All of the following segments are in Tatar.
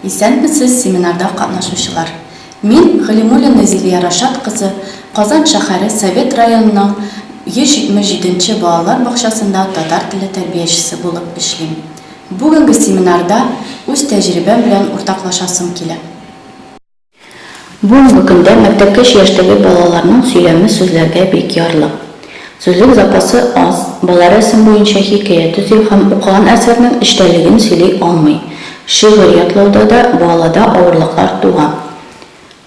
Исәнмесез, семинарда катнашучылар! Мин, Галимуллина Зилия Рашат кызы, Казан шәһәре Совет районының 177 нче балалар бакчасында татар теле тәрбиячесе булып эшлим. Бүгенге семинарда үз тәҗрибәм белән уртаклашасым килә. Бүгенге көндә мәктәпкәч яшьтәге балаларның сөйләме сүзләргә бик ярлы. Сүзлек запасы аз, бала рәсем буенча хикәя төзи һәм укыган әсәрнең эчтәлеген сөйли алмый. Шигырь ятлауда да балада авырлыклар туа.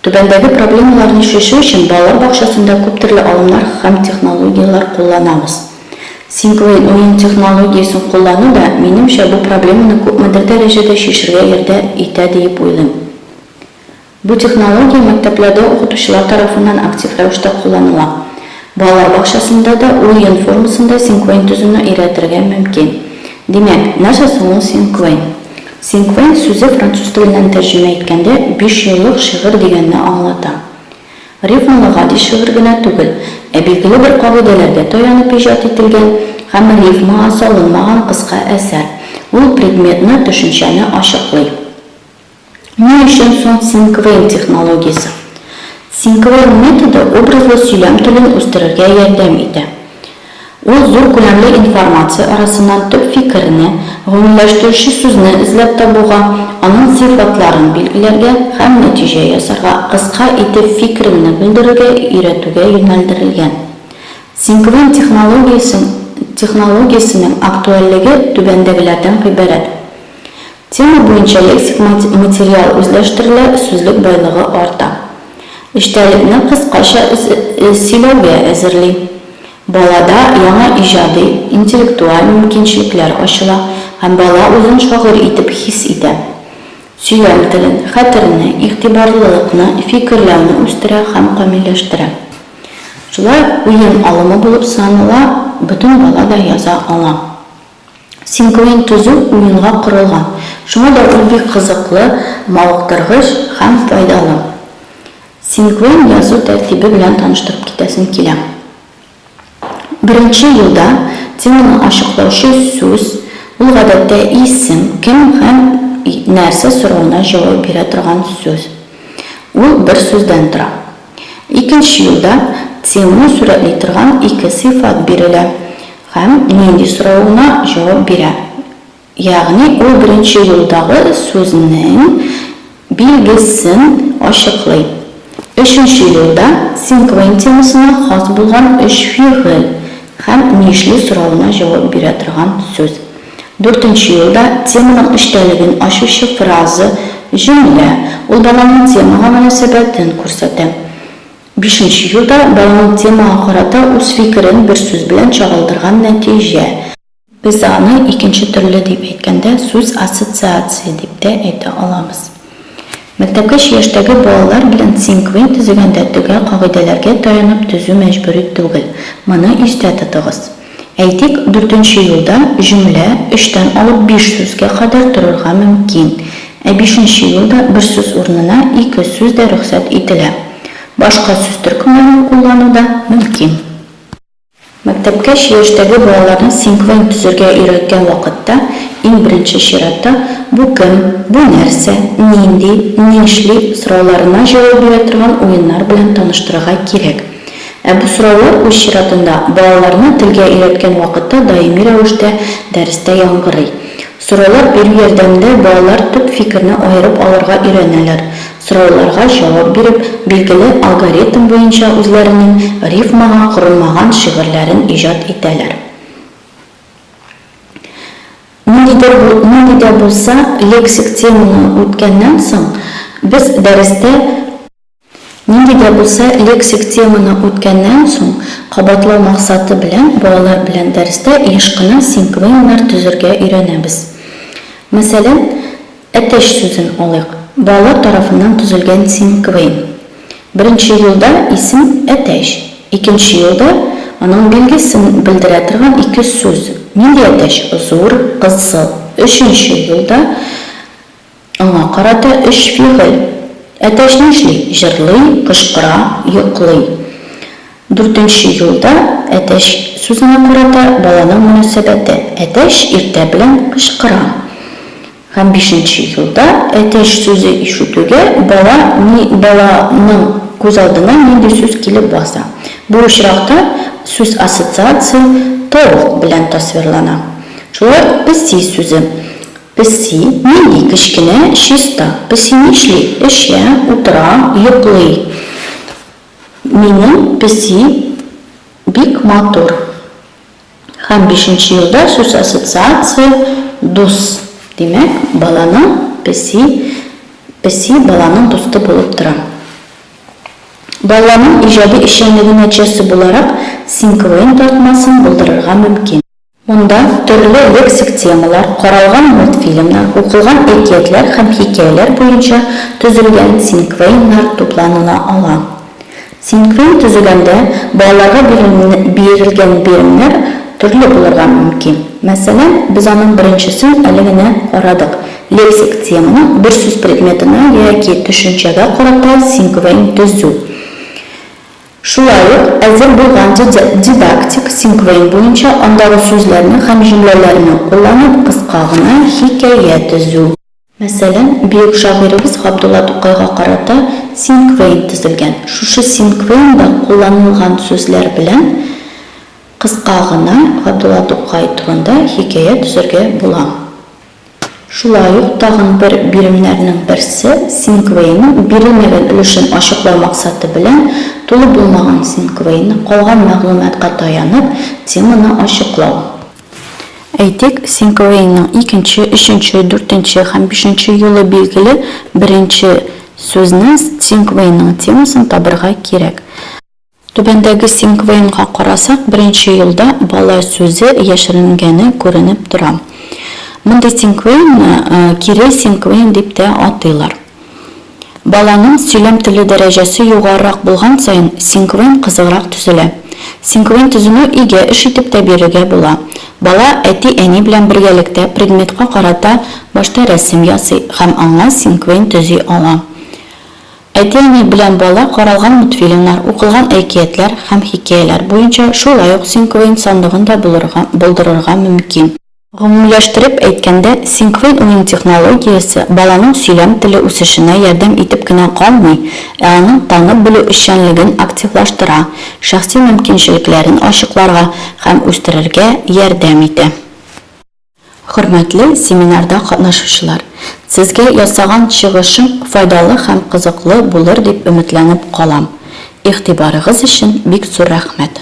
Түбәндәге проблемаларны чишү өчен балалар бакчасында күптөрле алымнар һәм технологияләр кулланабыз. Синклейн уен технологиясен куллану да, минемчә, бу проблеманы күпмедер дәрәҗәдә чишергә ярдә итә диеп уйлыйм. Бу технология мәктәпләрдә укытучылар тарафыннан актив рәвештә кулланыла. Балалар бакчасында да ул йон формасында синквейн төзүне өйрәтергә мөмкин. Димәк, нәрсә соң ул синквейн? Синквейн сүзе француз теленнән тәрҗемә иткәндә бишьюллык шигырь дигәнне аңлата. Рифмалы гади шигырь генә түгел, ә билгеле бер кагыйдәләргә таянып иҗат ителгән һәм рифмага салынмаган кыска әсәр. Ул предметны, төшенчәне ачыклый. Ни өчен соң синквейн технологиясе? Синквейн методы образлы сөйләм телен үстерергә ярдәм итә. Ул зур күләмле информация арасыннан төп фикерне, гомумләштерүче сүзне эзләп табуга, аның сыйфатларын билгеләргә һәм нәтиҗә ясарга, кыска итеп фикереңне белдерергә өйрәтүгә юнәлдерелгән. Синквейн технологиясен технологиясенең актуальлеге түбәндәгеләрдән гыйбарәт. Тема буенча лексик материал үзләштерелә, сүзлек байлыгы арта. Эчтәлекне кыскача сөйләүгә әзерли. Балада яңа иҗади, интеллектуаль мөмкинчелекләр ачыла һәм бала үзен шагыйрь итеп хис итә. Сөйләм телен, хәтерне, игътибарлылыкны, фикерләүне үстерә һәм камилләштерә. Шулай ук уен алымы булып санала, бөтен бала да яза ала. Синкуин төзү уенга корылган, шуңа да ул бик кызыклы, мавыктыргыч һәм файдалы. Синкуин язу тәртибе белән таныштырып китәсем килә. Беренче юлда теманы ачыклаучы сүз, ул гадәттә исем, кем һәм нәрсә соравына җавап бирә торган сүз. Ул бер сүздән тора. Икенче юлда теманы сурәтли торган ике сыйфат бирелә һәм нинди соравына җавап бирә. Ягъни ул беренче юлдагы сүзнең билгесен ачыклый. Өченче юлда Синквейн темасына хас булган өч фигыль һәм нишли соравына җавап бирә торган сүз. Дүртенче елда теманың эчтәлеген ачучы фраза, җөмлә, ул баланың темага мөнәсәбәтен күрсәтә. Бишенче елда баланың темага карата үз фикерен бер сүз белән чагылдырган нәтиҗә. Без аны икенче төрле дип әйткәндә сүз ассоциация дип тә әйтә алабыз. Мәктәпкәчә яшьтәге балалар белән синквейн төзегәндә төгәл кагыйдәләргә таянып төзү мәҗбүри түгел, моны истә тотыгыз. Әйтик, дүртенче юлда җөмлә өчтән алып биш сүзгә кадәр торырга мөмкин, ә бишенче юлда бер сүз урынына ике сүз дә рөхсәт ителә. Башка сүз төркемнәрен куллану да мөмкин. Мәктәпкәч яшьтәге балаларны синквент төзергә өйрәткән вакытта, иң беренче чиратта, бу кем, бу нәрсә, нинди, нишли сорауларына җавап бирә торган уеннар белән таныштырырга кирәк. Ә бу сораулар, үз чиратында, балаларны телгә өйрәткән вакытта даими рәвештә дәрестә яңгырый. Сораулар бирү ярдәмендә балалар төп фикерне аерып алырга өйрәнәләр, сорауларга җавап биреп, билгеле алгоритм буенча үзләренең рифмага корылмаган шигырьләрен иҗат итәләр. Нинди дә булса лексик теманы үткәннән соң, без дәрестә. Нинди дә булса лексик теманы үткәннән соң, кабатлау максаты белән балалар белән дәрестә еш кына синклонимнар төзергә өйрәнәбез. Мәсәлән, әтәч сүзен алыйк. Балалар тарафыннан төзелгән синклоим. Беренче юлда исем әтәч, икенче юлда аның билгесен белдерә торган ике сүз, нинди әтәч, зур, кызыл. Өченче юлда. Аңа карата өч фигыль. Әтәч нишли? Җырлый, кычкыра, йоклый. Дүртенче юлда әтәч сүзенә карата баланың мөнәсәбәте. Әтәч иртә белән кычкыра. Һәм бишенче юлда әтәч сүзе ишетүгә бала ни баланың күз алдына нинди сүз килеп баса? Бу очракта сүз ассоциация толк белән тасвирлана. Шулай ук песи сүзе. Песи, нинди кечкенә, чиста. Песи нишли? Эчә, утыра, йоклый. Минем песи бик матур. Һәм бишенче юлда сүз ассоциация, дус. Димәк, баланың песи, песи баланың дусты булып тора. Баланың иҗади эшчәнлеге нәтиҗәсе буларак Синквейн тартмасын булдырырга мөмкин. Монда төрле лексик темалар каралган мультфильмнар, укылган әкиятләр һәм хикәяләр буенча төзелгән синквейннар тупланыла ала. Синквейн төзегәндә балаларга бирелгән биремнәр төрле булырга мөмкин. Мәсәлән, без аның беренчесен әле генә карадык, лексик теманы бер сүз предметына яки төшенчәгә карата синквейн төзү. Шулай ук әзер булган дидактик синквейн буенча андагы сүзләрне һәм җөмләләрне кулланып кыска гына хикәя төзү. Мәсәлән, бөек шагыйребез Габдулла Тукайга карата синквейн төзелгән. Шушы синквейнда кулланылган сүзләр белән кыска гына Габдулла Тукай турында хикәя төзергә була. Шулай ук тагын бер биремнәрнең берсе, Синквейның бирелмәгән өлешен ачыклау максаты белән, тулы булмаган Синквейны, калган мәгълүматка таянып, теманы ачыклау. Әйтик, Синквейның икенче, өченче, дүртенче һәм бишенче юлы билгеле беренче сүзне Синквейның темасын табырга кирәк. Түбәндәге синквейнга карасак, беренче юлда бала сүзе яшеренгәне күренеп тора. Мондый синквейнны кире синквейн дип тә атыйлар. Баланың сөйләм теле дәрәҗәсе югарырак булган саен, синквейн кызыграк төзелә. Синквейн төзүне өйдә эш итеп тә бирергә була. Бала әти-әни белән бергәлектә предметка карата башта рәсем ясый һәм аңа синквейн төзи ала. Әти-әни белән бала каралган мультфильмнар, укылган әкиятләр һәм хикәяләр буенча шулай ук Синквейн сандыгын да булырга, булдырырга мөмкин. Гомумиләштереп әйткәндә, Синквейн уен технологиясе баланың сөйләм теле үсешенә ярдәм итеп кенә калмый, ә аның танып белү эшчәнлеген активлаштыра, шәхси мөмкинчелекләрен ачыкларга һәм үстерергә ярдәм итә. Хөрмәтле семинарда катнашучылар! Сезгә ясаган чыгышым файдалы һәм кызыклы булыр дип өметләнеп калам. Игътибарыгыз өчен бик зур рәхмәт!